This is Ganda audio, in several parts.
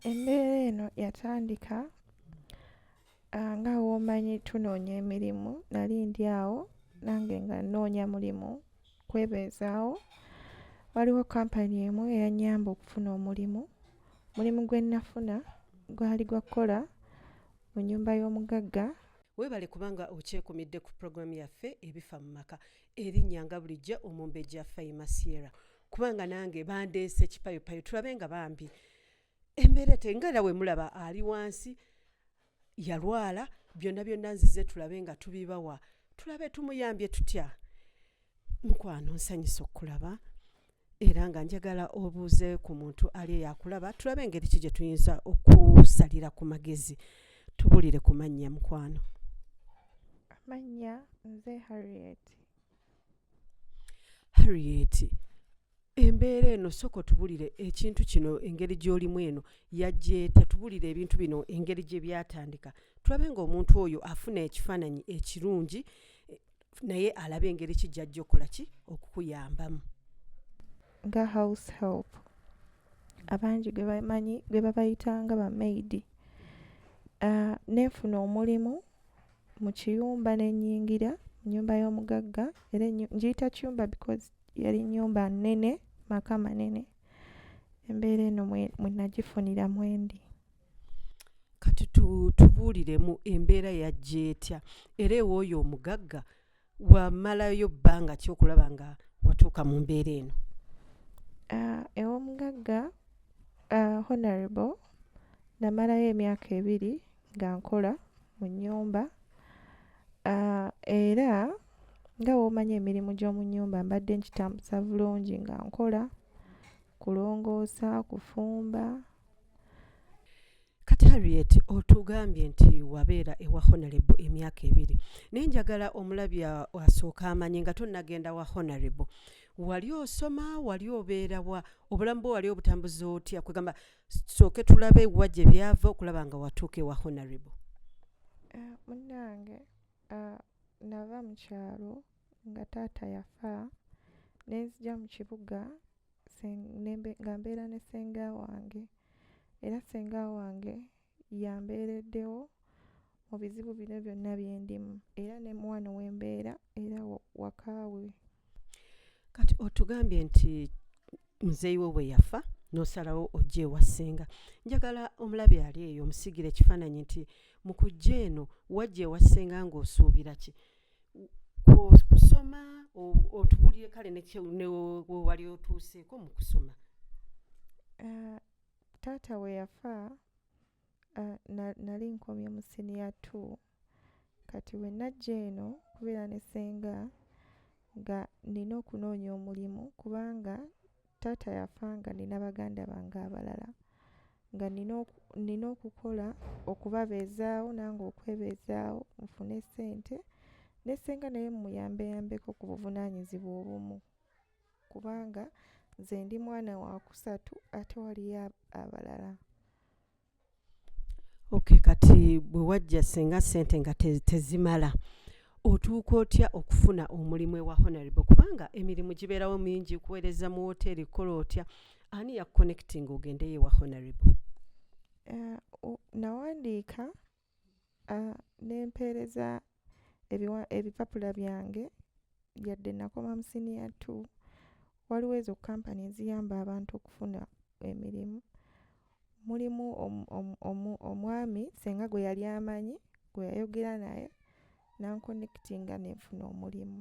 embeera eno yatandika nga womanyi tunoonya emirimu nali ndi awo nange nga nnoonya mulimu kwebeezaawo waliwo kampani emu eyanyamba okufuna omulimu mulimu gwe nnafuna gwali gwa kukola mu nyumba y'omugagga webale kubanga okyekumidde ku pulogulaamu yaffe ebifa mu maka erinnya nga bulijjo omumbejja faima sierra kubanga nange bandeese kipayopayo tulabe nga bambi embeera tenga era wemulaba ali wansi yalwala byonna byonna nzize tulabe nga tubibawa tulabe tumuyambye tutya mukwano nsanyisa okukulaba era nga njagala obuuze ku muntu ali eyakulaba tulabe engeri ki gye tuyinza okusalira ku magezi tubulire ku mannya mukwano amannya nze harriet harriet embeera eno soko tubulire ekintu kino engeri gy'olimu eno yajjeeta tubulire ebintu bino engeri gye byatandika tulabe ng'omuntu oyo afuna ekifaananyi ekirungi eh, naye alabe engeri ki gyajja okukola ki okukuyambamu nga house help abangi gwe bamanyi gwe babayitanga bamaidi uh, ah, nenfuna omulimu mu kiyumba ne nnyingira mu nnyumba y'omugagga era ngiyita kiyumba because yali nnyumba nnene maka manene embeera eno mwe nagifunira mwendi kati tubuuliremu embeera yajja etya era ewooyo omugagga wamalayo bbanga ki okulaba nga watuuka mu mbeera eno uh, ewomugagga uh, honorable namalayo emyaka ebiri nga nkola mu nyumba uh, era nga womanyi emirimu gy'omu nyumba mbadde nkitambuza bulungi nga nkola kulongoosa kufumba kati harriet otugambye nti wabeera ewa honarebo emyaka ebiri naye njagala omulabi asooka amanyi nga tonagenda wa honarebo wali osoma wali obeera wa obulamu bwe wali obutambuza otya kwegamba sooke tulabe wa gye byava okulaba nga watuuka ewa honarebo eh, munange eh, nava mu kyalo nga taata yafa nenzija mu kibuga nga mbeera ne ssenga wange era ssenga wange yambeereddewo mu bizibu bino byonna bye ndimu era ne muwano we mbeera era wakaawe kati otugambye nti muzeeyi wo bwe yafa n'osalawo ojja ewa ssenga njagala omulabi ali eyo omusigira ekifaananyi nti mu kujja eno wajja ewa ssenga ng'osuubira ki kusoma otubulire kale newali otuuseeko mu kusoma eh, taata we yafa eh, nali nkomye mu siniya t kati we najja eno kubeera ne senga nga nina okunoonya omulimu kubanga taata yafa nga nina baganda bange abalala nga nina okukola okubabeezaawo nange okwebeezaawo nfune sente nesenga naye mumuyambeyambeko ku buvunaanyizibwa obumu kubanga nze ndi mwana wakusatu ate waliyo abalala okay kati bwe wajja singa sente nga te, tezimala otuuka otya okufuna omulimu ewa honorable kubanga emirimu gibeerawo mingi kuweereza mu woteeri kukola otya ani yakuconnecting ogendeyo ewa honorable uh, nawandiika uh, nempeereza ebipapula byange yadde nakoma mu siniya t waliwo ezo kampani eziyamba abantu okufuna emirimu mulimu omwami senga gwe yali amanyi gwe yayogera naye nankonekitinga nenfuna omulimu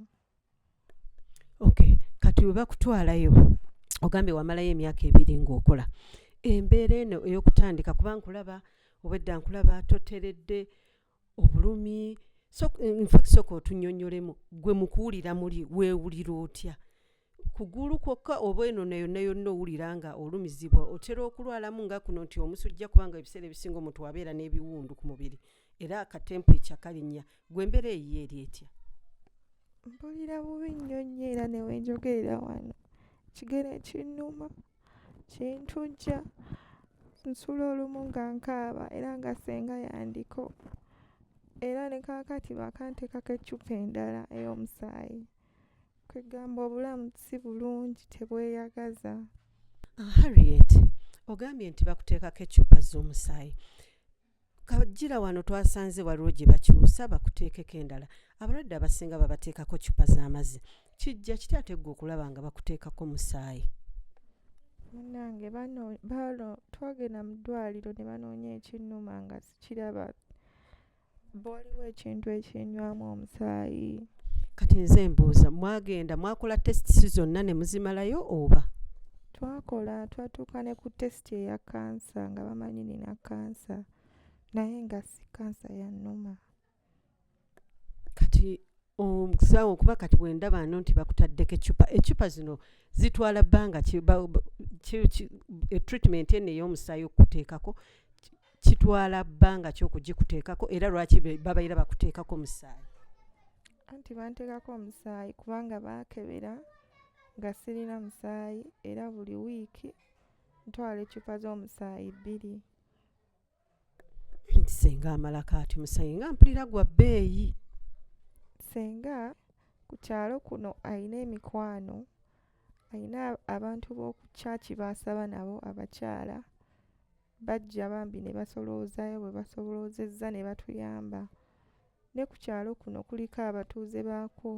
okay kati bwe bakutwalayo ogambye wamalayo emyaka ebiri ng'okola embeera eno ey'okutandika kuba nkulaba obwedda nkulaba toteredde obulumi infact soka otunyonyolemu gwe mukuwulira muli weewulira otya kugulu kwokka oba eno nayo nayonna owulira nga olumizibwa otera okulwalamu nga kuno nti omusujja kubanga ebiseera ebisinga omuntu wabeera n'ebiwundu ku mubiri era akatempu ekyakalinnya gwe embeera eyiyo eri etya mpulira bubi nnyo nnyo era newenjogerera wano kigero ekinnuma kintujja nsula olumu nga nkaaba era nga senga yandiko era ne kaakati baakanteekako eccupa endala ey'omusaayi kwegamba obulamu si bulungi tebweyagaza ah, harriet ogambye nti bakuteekako eccupa z'omusaayi kajira wano twasanze waliwo gye bakyusa bakuteekeko endala abalwadde abasinga babateekako cupa z'amazzi kijja kitya ate gwe okulaba nga bakuteekako musaayi munange bano twagenda mu ddwaliro ne banoonya ekinnuma nga sikiraba bwaliwo ekintu ekinywamu omusaayi kati nze mbuuza mwagenda mwakola testisi zonna ne muzimalayo oba twakola twatuuka ne ku test testi eya kansa nga bamanyi nina kansa naye nga si kansa yanuma kati omusawo um, kuba kati bwendaba no nti bakutaddeko ecupa ecupa zino zitwala bbanga etreatment eno ey'omusaayi okukuteekako kitwala bbanga ki okugikuteekako era lwaki babaira bakuteekako omusaayi anti banteekako omusaayi kubanga baakebera nga sirina musaayi era buli wiiki ntwala eccupa z'omusaayi bbiri nti senga amala kaati omusaayi nga mpulira gwa bbeeyi senga ku kyalo kuno alina emikwano alina abantu b'oku kyaki baasaba nabo abakyala bajja bambi ne basoloozaayo bwe basoloozezza ne batuyamba ne ku kyalo kuno kuliko abatuuze baakwo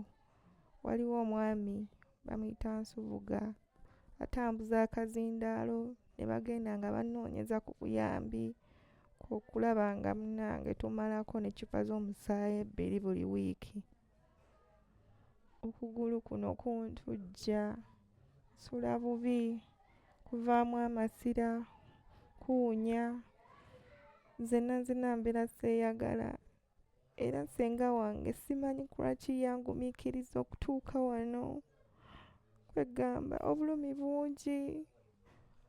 waliwo omwami bamuyita nsubuga atambuza akazindaalo ne bagenda nga banoonyeza ku buyambi okulaba nga munange tumalako ne cupa z'omusaayi ebbiri buli wiiki okugulu kuno kuntujja nsula bubi kuvaamu amasira kuwunya nze nanzina mbeera seeyagala era senga wange simanyi kulwaki yangumikiriza okutuuka wano kwegamba obulumi bungi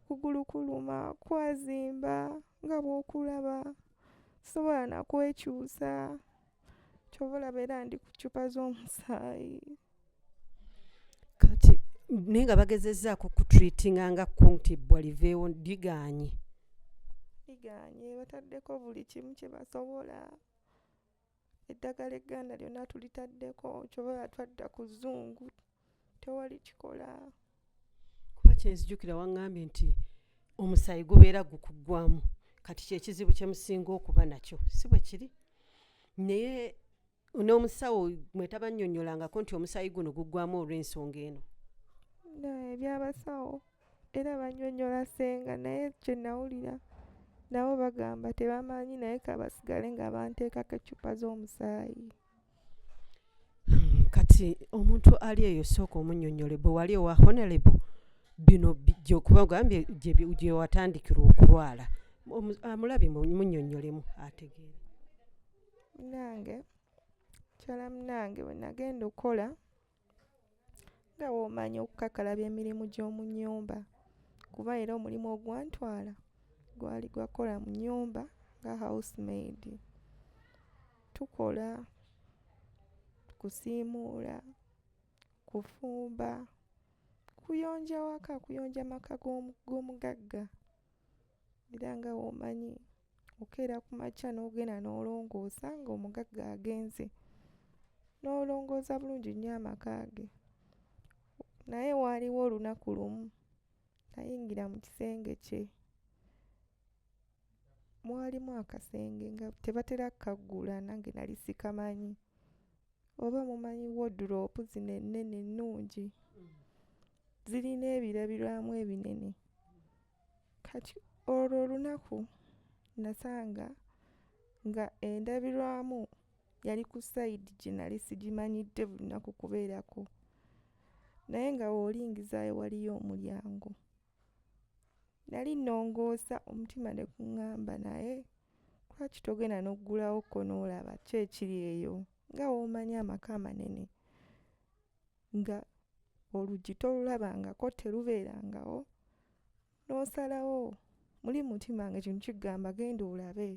kugulu kuluma kwazimba nga bwokulaba sobola nakwekyusa kyoba olaba era ndi ku ccupa z'omusaayi kati naye nga bagezezzaako kutreatinga nga kuntibbwa liveewo liganye liganye bataddeko buli kimu kyebasobola eddagala egganda lyonna tulitaddeko kyoba batwadda ku zungu tewali kikola kuba kyenzijukira waŋŋambye nti omusaayi gubeera gukuggwamu kati kyekizibu kyemusinga okuba nakyo si bwe kiri naye n'omusawo mwetabannyonnyolangako nti omusaayi guno guggwamu olw'ensonga eno ebyabasawo era banyonyola senga naye kyenawulira nabo bagamba tebamanyi naye kabasigale nga banteekako eccupa z'omusaayi kati omuntu ali eyo sooka omunyonyole bwe wali owa honelebo bino gyokuba ogambye gyewatandikirwa okulwala amulabe munyonyolemu ategeere munange mukyala munange bwe nagenda okukola nga bw'omanya okukakalabya emirimu gy'omu nnyumba kuba era omulimu ogwantwala gwali gwakukola mu nnyumba nga housemaid tukola kusiimuula kufumba kuyonja waka kuyonja maka g'omugagga era nga bw'omanyi okeera ku makya n'ogenda n'olongoosa ng'omugagga agenze n'olongoosa bulungi nnyo amaka ge naye waaliwo olunaku lumu nayingira mu kisenge kye mwalimu akasenge nga tebatera kukaggula nange nali sikamanyi oba mumanyi woduloopu zino ennene ennungi zirina ebirabirwamu ebinene kati olwo olunaku nasanga nga endabirwamu yali ku sayidi gye nali sigimanyidde bulinaku kubeerako naye nga weolingizayo waliyo omulyango nali nongoosa omutima ne kuŋŋamba naye lwaki togenda n'oggulawo ko n'olaba ki ekiri eyo nga w'omanyi amaka amanene nga oluggi tolulabangako terubeerangawo n'osalawo muli mutima nga kino kigamba genda olabe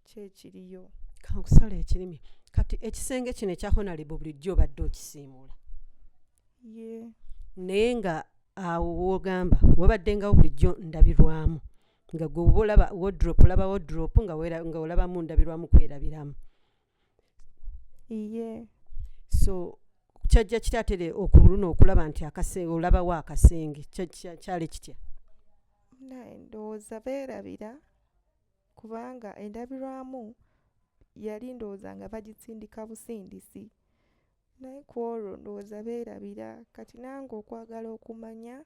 kyekiriyo kankusala ekirimi kati ekisenge kino ekya honalebo bulijjo obadde okisiimuula ye naye nga awo wogamba wabaddengawo bulijjo ndabirwamu nga gwe oba olaba wodrop olaba wodrop nga olaba mu ndabirwamu kwerabiramu iye so kyajja kitya ate le- okuluna okulaba nti akase olabawo akasenge Kya- kya- kyali kitya naye ndowooza beerabira kubanga endabirwamu yali ndowooza nga bagisindika busindisi naye ku olwo ndowooza beerabira kati nange okwagala okumanya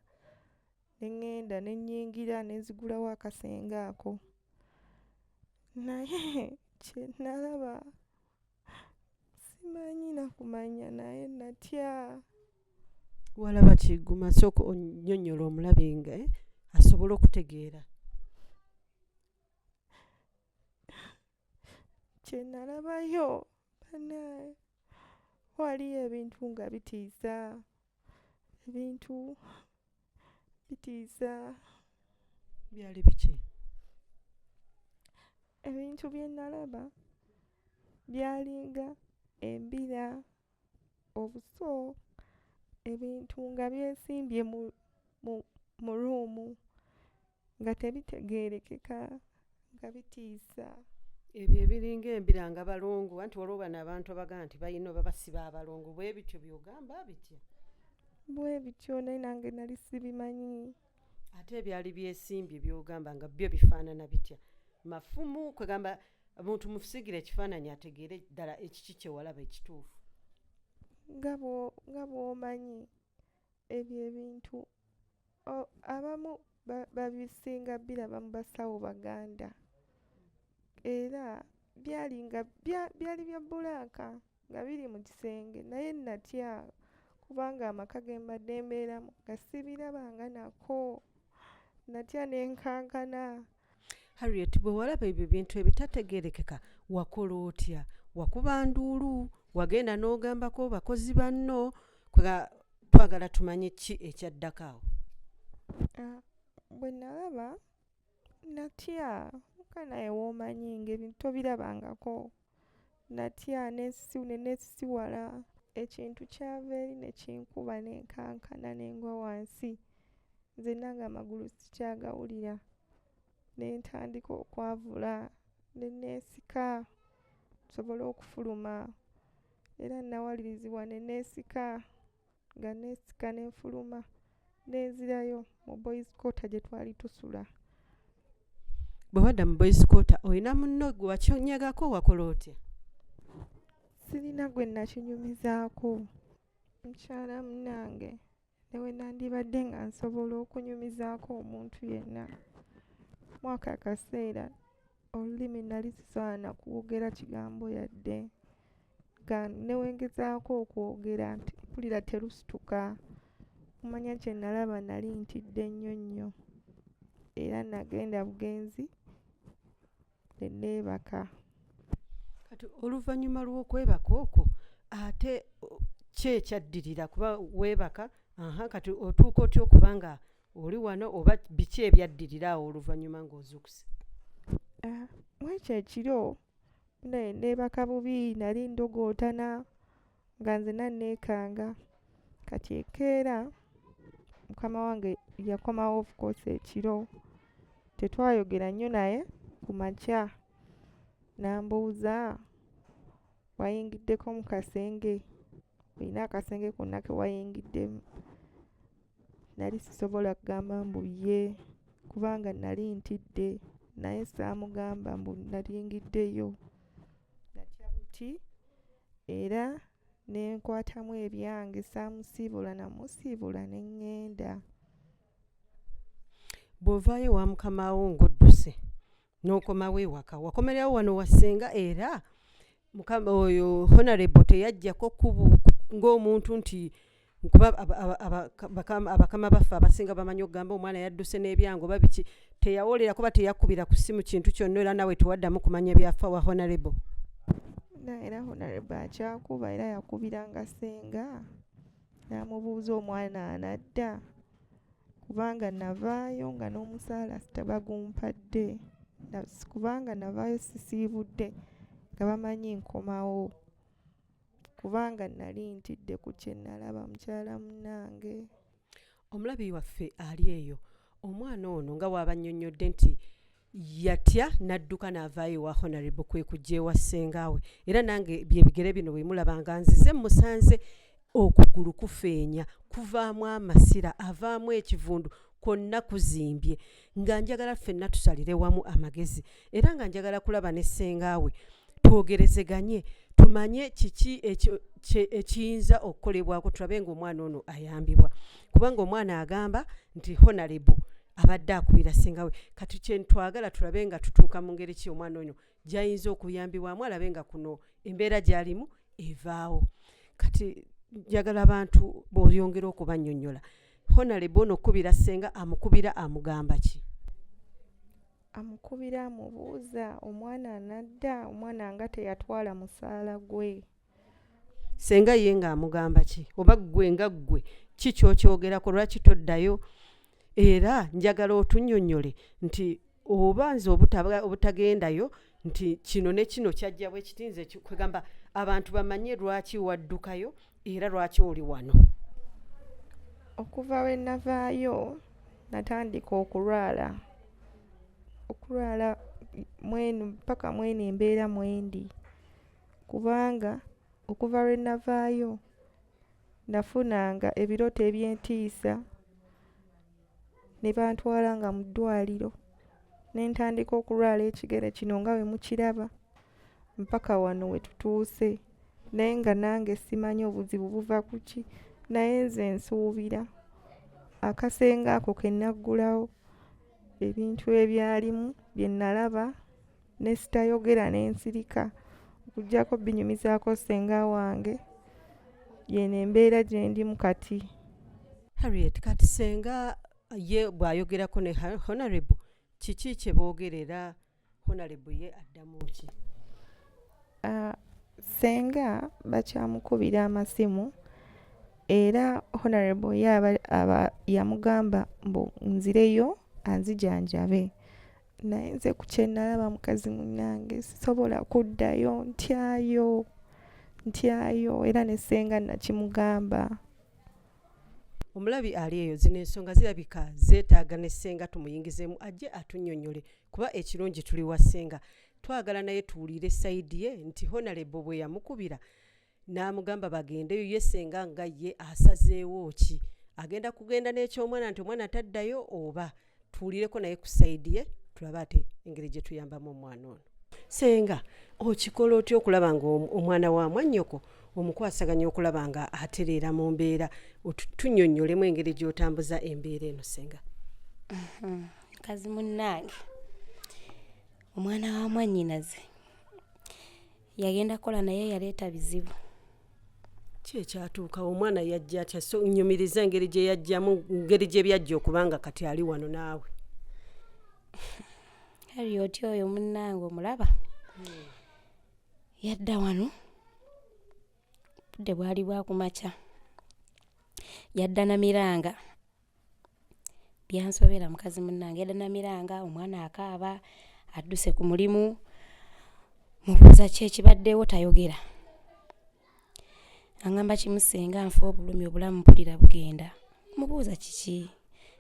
ne ŋŋenda ne nnyingira ne nzigulawo akasenge ako naye kye nalaba simanyi na kumanya naye natya walaba kiguma sooka onnyonnyola omulabi nga eh, asobole okutegeera kye nalabayo banaye waliyo ebintu nga bitiisa ebintu bitiisa byali biki ebintu bye nalaba byalinga embira obuso ebintu nga byesimbye mu mu mu ruumu nga tebitegeerekeka nga bitiisa ebyo ebiringa embira nga balongo anti waliwo bano abantu abagaa nti balina oba basiba abalongo bwe bityo byogamba bitya bwe bityo naye nange nali sibimanyi ate ebyali byesimbye byogamba nga byo bifaanana bitya mafumu kwegamba omuntu mufusigira ekifaananyi ategeere ddala ekiki kyewalaba ekituufu nga bwomanyi ebyo ebintu abamu babisinga biraba mu basawo baganda era byali nga byali bya bbulaaka nga biri mu kisenge naye natya kubanga amaka ge mbadde mbeeramu nga sibirabanga nako natya ne nkankana harriet bwe walaba ebyo bintu ebitategerekeka wakola otya wakuba nduulu wagenda n'ogambako bakozi banno twagala tumanye ki ekyaddako awo ah, bwe nalaba natya kanaye womanyi ngaebintu tobirabangako natya nenesisiwala ekintu kyava eri nekinkuba nenkankana nengwa wansi nzena nga amagulu sikyagawulira nentandika okwavula nenesika nsobole okufuluma era nawalirizibwa nenesika nga neesika ne nfuluma ne nzirayo mu boys quarter gye twali tusula bwe wadda mu boys quarter olina munno gwe wakinyagako wakola otya sirina gwe nakinyumizaako mukyala munange newe nandibadde nga nsobola okunyumizaako omuntu yenna mwaka akaseera olulimi nali sisobola nakwogera kigambo yadde newengezaako okwogera nti mpulira terusituka kumanya kye nalaba nali ntidde nnyo nnyo era nagenda bugenzi ne neebaka kati oluvannyuma lw'okwebaka okwo ate ki ekyaddirira kuba weebaka aha kati otuuka otya okuba nga oli wano oba biki ebyaddirira awo oluvannyuma ng'ozuukuse ah, mwekyo ekiro naye neebaka bubi nali ndogootana nga nzena nneekanga kati ekeera mukama wange yakomawo ofcourse ekiro tetwayogera nnyo naye ku makya n'ambuuza wayingiddeko mu kasenge olina akasenge konna ke wayingiddemu nali sisobola kugamba mbu ye kubanga nali ntidde naye saamugamba mbu nalingiddeyo natya buti era ne nkwatamu ebyange saamusiibula namusiibula ne ŋŋenda bw'ovaayo wa mukama wo ng'odduse n'okomawo ewaka wakomererawo wano wasenga era mukama oyo honorable teyajjako kubu ng'omuntu nti kuba abakama baffe abasinga bamanyi okugamba omwana yadduse n'ebyango babiki teyawolera kuba teyakubira ku ssimu kintu kyonna era nawe tewaddamu kumanya byafa wa honorable era honorable akyakuba era yakubira nga senga namubuuza omwana anadda kubanga navaayo nga n'omusaala tebagumpadde kubanga navaayo sisiibudde nga bamanyi nkomawo kubanga nali ntidde ku kyenalaba mukyala munange omulabi waffe ali eyo omwana ono nga waabanyonnyodde nti yatya n'adduka n'avaayo ewa honarebo kwe kujja ewa ssengaawe era nange byebigere bino bwe mulabanga nzize musanze okugulu kufeenya kuvaamu amasira avaamu ekivundu kwonna kuzimbye nga njagala ffenna tusalire wamu amagezi era nga njagala kulaba ne ssengaawe twogerezeganye tumanye kiki ekiyinza okukolebwako tulabe ngaomwana ono ayambibwa kubanga omwana agamba nti honalebo abadde akubira singawe kati kyentwagala tulabe nga tutuuka mu ngeri ki omwana ono gyayinza okuyambibwamu alabe nga kuno embeera gyalimu evaawo kati njagala abantu boyongera okubanyonyola honalebo ono okukubira senga amukubira amugamba ki amukubira amubuuza omwana anadda omwana nga teyatwala musaala gwe senga ye nga amugamba ki oba ggwe nga ggwe ki kyokyogerako lwaki toddayo era njagala otunyonyole nti oba nze obutagendayo nti kino ne kino kyajja bwe kiti nze kwegamba abantu bamanye lwaki waddukayo era lwaki oli wano okuva we navaayo natandika okulwala okulwala mwenu paka mwenu embeera mwendi kubanga okuva lwe navaayo nafunanga ebirooto eby'entiisa ne bantwala nga mu ddwaliro ne ntandika okulwala ekigere kino nga bwe mukiraba. mpaka wano wetutuuse naye nga nange simanyi obuzibu buva ku ki naye nze nsuubira akasenga ako ke naggulawo ebintu ebyalimu bye nalaba ne sitayogera ne nsirika okuggyako binyumizaako ssenga wange yeno embeera gye ndimu kati harriet kati senga ye bw'ayogerako ne honorable kiki kye boogerera honalebo ye addamu ki ah, senga bakyamukubira amasimu era honarebo ye aba yamugamba mbu nzireyo anzijanjabe naye nze ku kyenalaba mukazi munange sisobola kuddayo ntyayo ntyayo era nesenga nakimugamba omulabi ali eyo zino ensonga zirabika zeetaaga ne ssenga tumuyingizemu ajje atunyonyole kuba ekirungi tuli wa senga twagala naye tuwulire sayidi ye nti honalebo bwe yamukubira n'amugamba bagendeyo ye senga nga ye asazeewo ki agenda kugenda n'ekyomwana nti omwana taddayo oba tuwulireko naye ku sayidi ye tulabe ate engeri gye tuyambamu omwana ono senga okikola otya okulaba nga omwana wa mwannyoko omukwasaganya okulaba nga atereera mu mbeera tunyonyolemu engeri gy'otambuza embeera eno senga mukazi munnange omwana wa mwannyinaze yagenda kukola naye yaleeta bizibu ki ekyatuukawo omwana yajja atya so nyumiriza engeri gye yajjamu ngeri gye byajja okubanga kati ali wano naawe harriot oyo munnange omulaba hmm. yadda wano budde bwali bwakumakya yadda na miranga byansobera mukazi munnange yadda namiranga omwana akaaba adduse ku mulimu mubuuza ki ekibaddewo tayogera aŋamba kimu singa nfa obulumi obulamu mpulira bugenda mubuuza kiki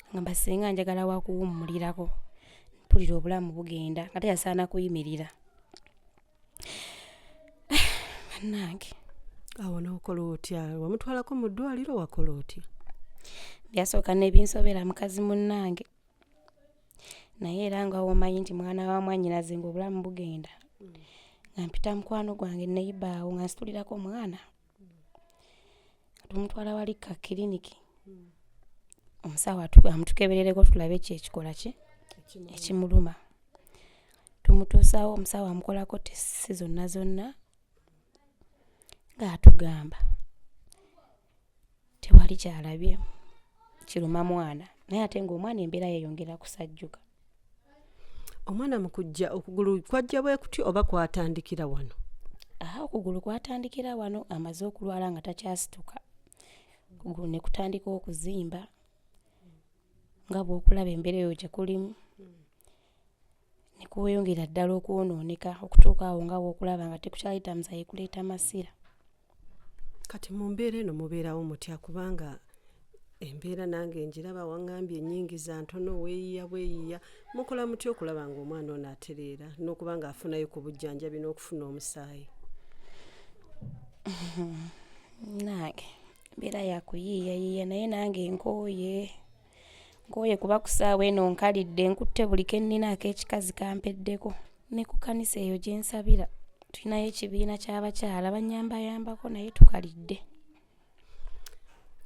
aŋamba singa njagala wakuwummulirako mpulira obulamu bugenda nga teyasaana kuyimirira bannange awo n'okola otya wamutwalako mu ddwaliro wakola otya byasooka n'ebinsobera mukazi munnange naye era nga womanyi nti mwana wa mwanyinaze ngaobulamu bugenda nga mpita mukwano gwange neyibaawo nga nsitulirako omwana tumutwala wali ka kiriniki omusawo amutukeberereko tulabe ki ekikola ki ekimuluma tumutuusawo omusawo amukolako tesi zonna zonna ng'atugamba tewali kyalabye kiruma mwana naye ate ng'omwana embeera yeyongera kusajjuka omwana mu kujja okugulu kwajja bwe kutyo oba kwatandikira wano aha okugulu kwatandikira wano amaze okulwala nga takyasituka okugulu ne kutandika okuzimba nga bw'okulaba embeera eyo gye kulimu ne kuweyongera ddala okwonooneka okutuuka awo nga wokulaba nga tekukyayita muzayi kuleeta masira kati mu mbeera eno mubeerawo mutya kubanga embeera nange njiraba waŋambye enyingi za ntono weeyiya bweyiya mukola mutya okulaba nga omwana ono atereera n'okuba nga afunayo ku bujjanjabi n'okufuna omusaayi nange mbeera yakuyiiyayiiya naye nange nkooye nkooye kuba ku ssaawa eno nkalidde nkutte buli ke nnina ak'ekikazi kampeddeko ne ku kkanisa eyo gye nsabira tulinayo ekibiina ky'abakyala bannyambayambako naye tukalidde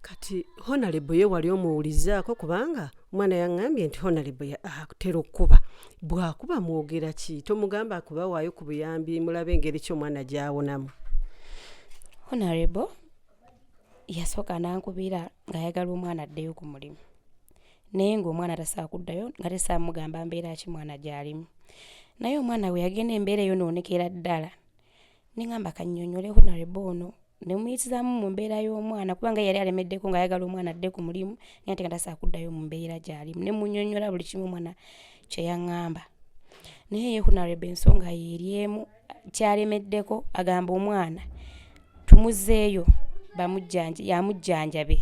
kati honalebo ye wali omuwulizaako kubanga omwana yaŋŋambye nti honalebo atera okukuba bw'akuba mwogera ki tomugamba kuba waayo ku buyambi mulabe engeri ki omwana gy'awonamu honalebo yasooka n'ankubira ng'ayagala omwana addeyo ku mulimu naye ng'omwana tasaa kuddayo nga tesaa mugamba mbeera ki mwana gy'alimu naye omwana we yagenda embeera eyo noonekera ddala ne ŋamba kannyonnyole honarebo ono ne muyitizaamu mu mbeera y'omwana kubanga yali alemeddeko ng'ayagala omwana adde ku mulimu naye ate nga tasaa kuddayo mu mbeera gy'alimu ne munyonnyola buli kimu omwana kye yaŋŋamba naye ye honarebo ensonga yeeri emu kyalemeddeko agamba omwana tumuzeeyo amujjanjabe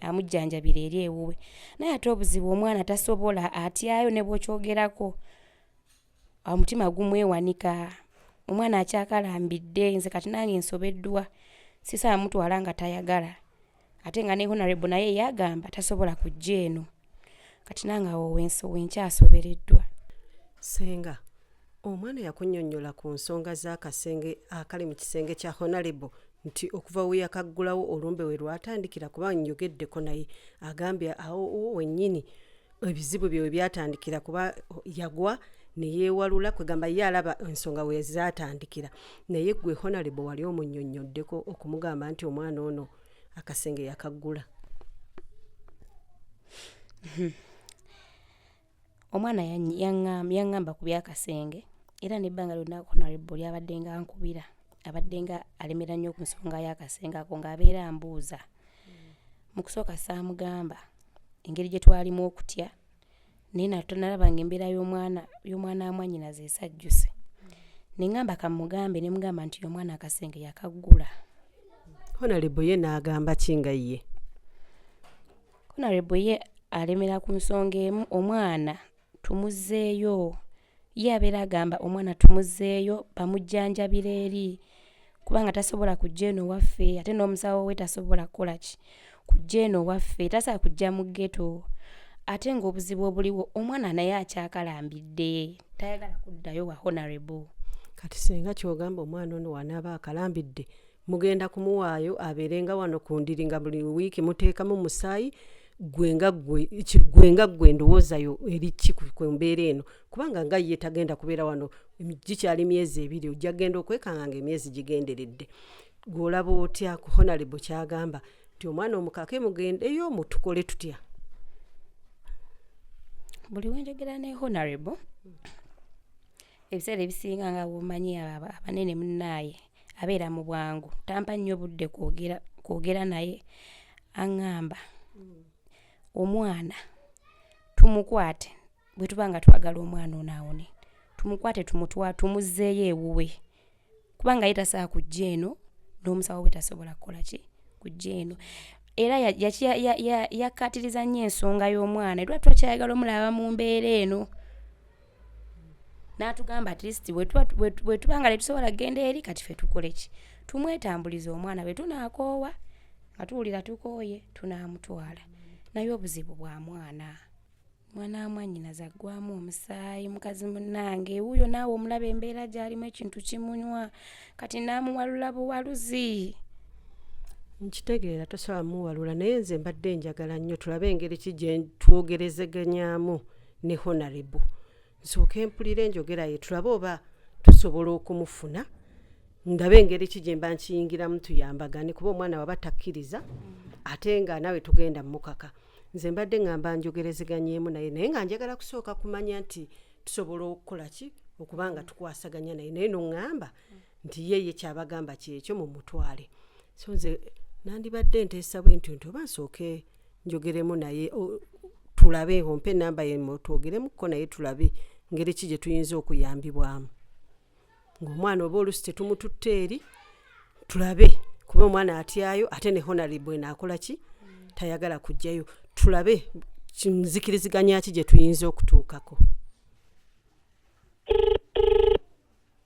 amujjanjabire eri ewuwe naye ate obuzibu omwana tasobola atyayo ne bwokyogerako omutima gumwewanika omwana akyakalambidde nze kati nange nsobeddwa sisaba mutwala nga tayagala ate nga ne honarebo naye yagamba tasobola kujja eno kati nange awo wenkyasobereddwa senga omwana yakunyonyola ku nsonga z'akasenge akali mu kisenge kya honarebo nti okuva we yakaggulawo olumbe we lwatandikira kuba njogeddeko naye agambye awo wennyini ebizibu bye webyatandikira kuba yagwa neyewalula kwegamba ye alaba ensonga wezatandikira naye gwe honalebo wali omunyonyoddeko okumugamba nti omwana ono akasenge yakaggula omwana yanyi- yangam- yangamba ku byakasenge era nebbanga lyonna honarable lyabadde nga nkubira abadde nga alemera nnyo ku nsonga y'akasenge ako ng'abeera ambuuza mu kusooka saamugamba engeri gye twalimu okutya naye natonalaba nga embeera y'omwana y'omwana amwanyinaze esajjuse nengamba kamugambe ne mugamba nti omwana akasenge yakaggula honalebo ye n'agamba ki nga ye honalebo ye alemera ku nsonga emu omwana tumuzeeyo Ye abeera agamba omwana tumuzzeeyo bamujjanjabira eri kubanga tasobola kujja eno waffe ate n'omusawo we tasobola kukola ki kujja eno waffe tasobola kujja mu geto ate ng'obuzibu obuliwo omwana naye akyakalambidde tayagala kuddayo wa honorable kati singa kyogamba omwana ono wanaaba akalambidde mugenda kumuwaayo abeerenga wano ku ndiri nga buli wiiki muteekamu musaayi gwe nga gwe gwe nga gwe ndowooza yo eri ki ku mbeera eno kubanga nga ye tagenda kubeera wano gikyali myezi ebiri ojja genda okwekanga nga emyezi gigenderedde gwolaba otya ku honalebo kyagamba nti omwana omukake mugendeyo mutukole tutya buli wenjogera ne honalebo ebiseera ebisinga nga womanyi abanene munaaye abeera mu bwangu tampa nnyo budde kwogera kwogera naye aŋŋamba omwana tumukwate bwe tuba nga twagala omwana ono awone tumukwate tumutwa tumuzzeeyo ewuwe kubanga ye tasaa kujja eno n'omusawo we tasobola kukola ki kujja eno era ya- yaki- ya- ya- ya- yakkaatiriza nnyo ensonga y'omwana era tuba kyayagala omulaba mu mbeera eno n'atugamba at least bwe tuba nga tetusobola kugenda eri kati fe tukole ki tumwetambuliza omwana bwe tunaakoowa nga tuwulira tukooye tunaamutwala naye obuzibu bwa mwana mwana wamwanyinaze aggwamu omusaayi mukazi munnange wuuyo naawe omulaba embeera gy'alimu ekintu kimunywa kati naamuwalula buwaluzi nkitegeera tosobola muwalula naye nze mbadde njagala nnyo tulabe engeri ki gye twogerezeganyaamu ne honarebo nsooka empulira enjogera ye tulabe oba tusobola okumufuna ndabe engeri ki gye mba nkiyingiramu tuyambagane kuba omwana waba takkiriza ate nga nawe tugenda mukaka nze mbadde ngamba njogerezeganyeemu naye naye nga njagala kusooka kumanya nti tusobola okukola ki okuba nga tukwasaganya naye naye noŋŋamba nti ye ye kyabagamba kyekyo mu mutwale so nze nandibadde nteesa bwe ntyo nti oba nsooke njogeremu naye tulabe ompe enamba yemu twogeremuko naye tulabe ngeri ki gye tuyinza okuyambibwamu ngaomwana oba olusi tetumututte eri tulabe kuba omwana atyayo ate ne honarable naakola ki tayagala kujjayo tulabe nzikiriziganya ki gye tuyinza okutuukako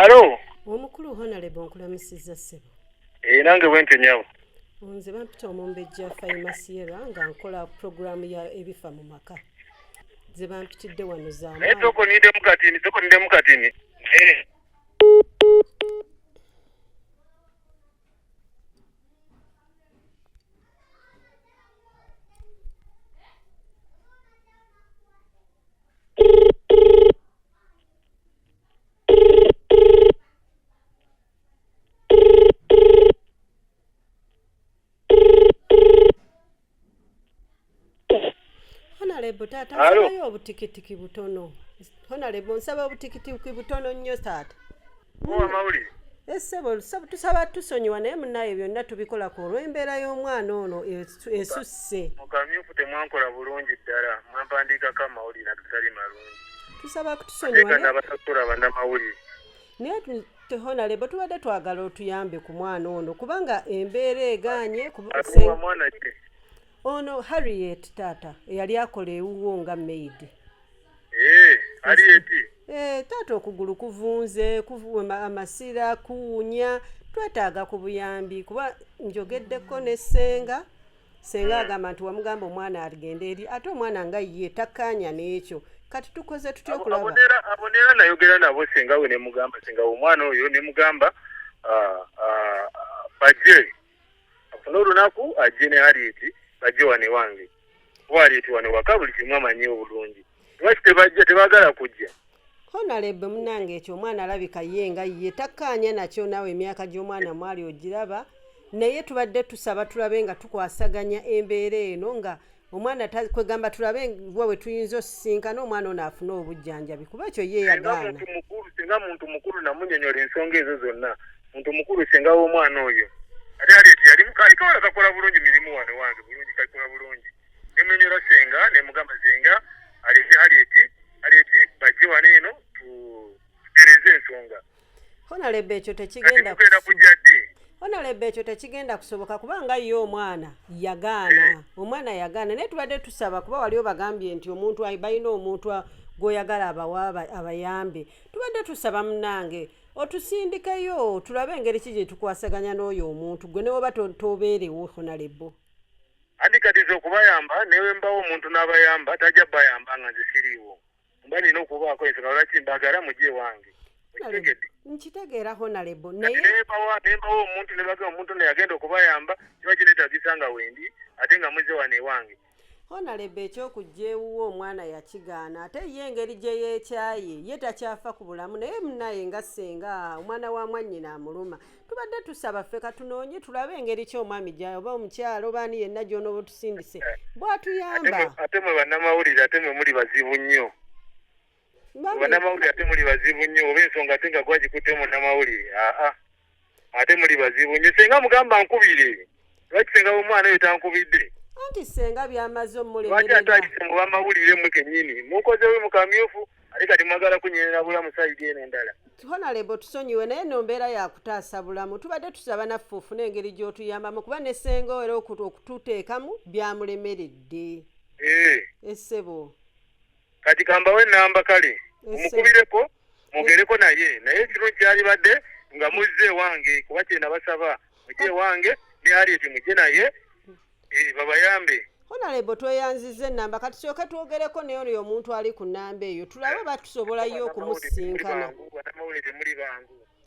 alo omukulu honalebo nkulamusizza ssebo ee nange bwente nyabo nze bampita omumbejja faimasiyera nga nkola puroguramu ya ebifa mu maka ze bampitidde wano zanaye tokonidemu katini tokonidemu katini eh. honalebo taata Alo. nsabayo obutikitiki butono honalebo nsaba obutikitiki butono nnyo taata owamawulire esebo eh, tusaba tusonyiwa naye munaye byonna tubikola ku olw'embeera y'omwana ono esusse mukamyufu temwankola bulungi ddala mwampandiikako amawulire agatali malungi tusaba kutusonyiwanabasasula banamawulire naye tehonalebo tubadde twagala otuyambe ku mwana ono kubanga embeera eganye ono harriet taata eyali akola ewuwo nga maid Eh, ali eti. Eh, taata okugulu kuvunze, kuvuma amasira, kuwunya, twetaaga ku buyambi kuba njogeddeko ne ssenga senga agamba nti wamugamba omwana agende eri ate omwana nga ye takkaanya n'ekyo kati tukoze tutya Abo- okulaba abonera abonera nayogera nabo senga we nemugamba senga we omwana oyo nemugamba ah, ah, ah, baje afune olunaku ajje ne halieti bajje wano ewange kuba halieti wano waka buli kimu amanyi obulungi lwaki tebajja tebagala kujja honalebe munange ekyo omwana alabika ye nga ye takkaanya nakyo naawe emyaka gy'omwana mwali ogiraba naye tubadde tusaba tulabe nga tukwasaganya embeera eno nga omwana kwegamba tulabe wa wetuyinza osisinkana omwana ono afune obujjanjabi kuba ekyo ye yagaana singa muntu mukulu namunyonyola ensonga ezo zonna muntu mukulu singa womwana oyo ate ali ti yali mukali kawala kakola bulungi mirimu wano wange bulungi kakola bulungi nemunyonyola senga nemugamba senga alese hali eti hali eti bajje wano eno tutereze ensonga honalebe ekyo tekigenda honalebe ekyo tekigenda kusoboka kubanga ye omwana yagaana eh. omwana yagaana naye tubadde tusaba kuba wali obagambye nti omuntu balina omuntu gwoyagala abawa abayambe tubadde tusaba munange otusindikeyo tulabe engeri ki gyetukwasaganya n'oyo omuntu gwe newoba tobeerewo honalebo andi kati nze okubayamba newembawo omuntu n'abayamba tajja bayamba nga nze siriiwo mba nina okubaako ensonga lwaki mbagala mujje ewange okitegedde nkitegeera honalebo naye nembawa nembawa omuntu nebaga omuntu ono yagenda okubayamba kiba kinetagisa nga wendi ate nga muze wano ewange honalebo ekyokujja ewuwe omwana yakigaana ate ye engeri gye yeekyaye ye takyafa ku bulamu naye munaye nga senga omwana wa mwannyina amuluma tubadde tusaba ffe katunoonye tulabe engeri ki omwami gya oba omukyalo oba ani yenna gyonooba otusindise bwatuyamba ate mwe bannamawulire ate mwe muli bazibu nnyo bannamawulire ate muli bazibu nnyo oba ensonga ate nga gwagikutte munnamawulire aa ate muli bazibu nnyo senga mugamba nkubire lwaki senga w'omwana oyo tankubidde anti senga byamaze omulemereralwaki atayise mu bamawulire mwe kennyini mukozewe mu kamyufu ate kati mwagala kunyerera bulamu sayidi eno endala honalebo tusonyiwe naye no mbeera yakutaasa bulamu tubadde tusaba naffe ofuna engeri gy'otuyambamu kuba ne senga era okututeekamu byamulemeredde eh. esebo kati kambawe namba kale omukubireko mwogereko naye naye ekirungi kyalibadde nga muzze ewange kuba kyena basaba mujje ewange ne harriet mujje naye eh, babayambe honalebo tweyanziza enamba kati kyoke twogereko naye oyo omuntu ali ku namba eyo tulabe oba tusobolayo okumusisinkana banamawulire muli bangu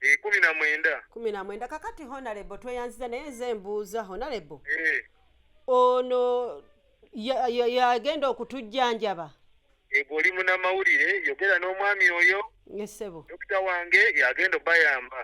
Eh, kumi na mwenda kumi na mwenda kakati honalebo tweyanziza naye nze mbuuza honalebo eh. ono yagenda okutujjanjaba ego oli munamawulire yogera n'omwami oyo esebo dokita wange yagenda obayamba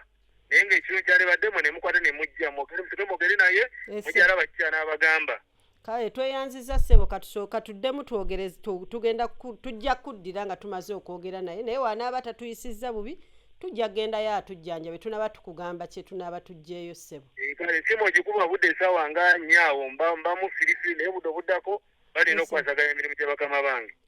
naye ngaekiro kyalibaddemu nemukwata nemujja mwogere museke mwogere naye mukyala bakikyana abagamba kale tweyanziza ssebo katusooka tuddemu twogere tugenda tujja kuddira nga tumaze okwogera naye naye wanaaba tatuyisizza bubi tujja kugendayo atujjanja bwe tunaba tukugamba kye tunaaba tujjeeyo ssebo eh, kale esimu ogikuba budde esaawa nga nyaawo mbamu firifiri naye budde obuddako balina okukwasaganya emirimu gya bakama bange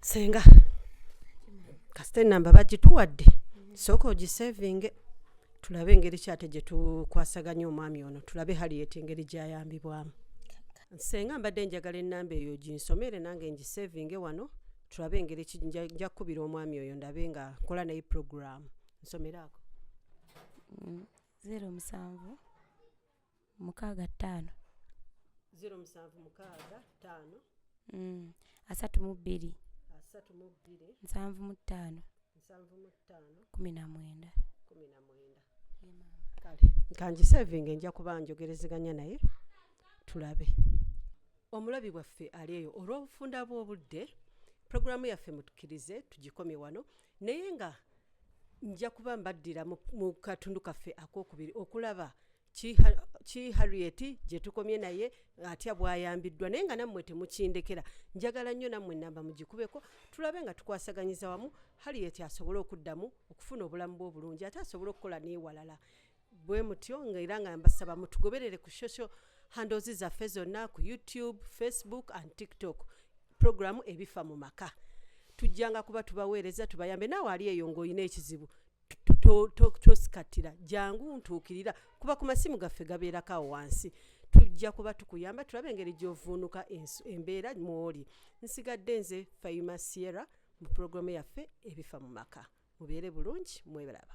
senga kasita enamba bagituwadde sooka ogisevinge tulabe engeri kyate gye tukwasaganya omwami ono tulabe haliyeti engeri gyayambibwamu senga mbadde njagala enamba eyo ginsomere nange ngisevinge wano tulabe engeri ki- nja- nja kukubira omwami oyo ndabe nga nkola naye puroguramu nsomeraako zero musanvu mukaaga ttaano ziro musanvu mukaaga ttaano mm. asatu mu bbiri asatu mu bbiri nsanvu mu ttaano nsanvu mu ttaano kumi na mwenda kumi na mwenda kale kangisevinga enja kuba njogerezeganya naye tulabe omulabi waffe ali eyo olw'obufunda bw'obudde pulogulaamu yaffe mutukirize tugikomye wano naye nga nja kuba mbaddira mu katundu kaffe akokubiri okulaba ki Ha- ki harriet gye tukomye naye atya bwayambiddwa naye nga nammwe temukindekera njagala nnyo nammwe ennamba mugikubeko tulabe nga tukwasaganyiza wamu harriet asobole okuddamu okufuna obulamu bwe obulungi ate asobole okukola n'ewalala bwe mutyo nga era nga mbasaba mutugoberere ku social handles zaffe zonna ku youtube facebook and tiktok programu ebifa mu maka tujjanga kuba tubaweereza tubayambe naawe ali eyo ng'olina ekizibu tosikatira jangu ntuukirira kuba ku masimu gaffe gabeerako awo wansi tujja kuba tukuyamba tulabe engeri gy'ovuunuka embeera mwoli nsigadde nze fayuma sierra mu pulogulaamu yaffe ebifa mu maka mubeere bulungi mwebalaba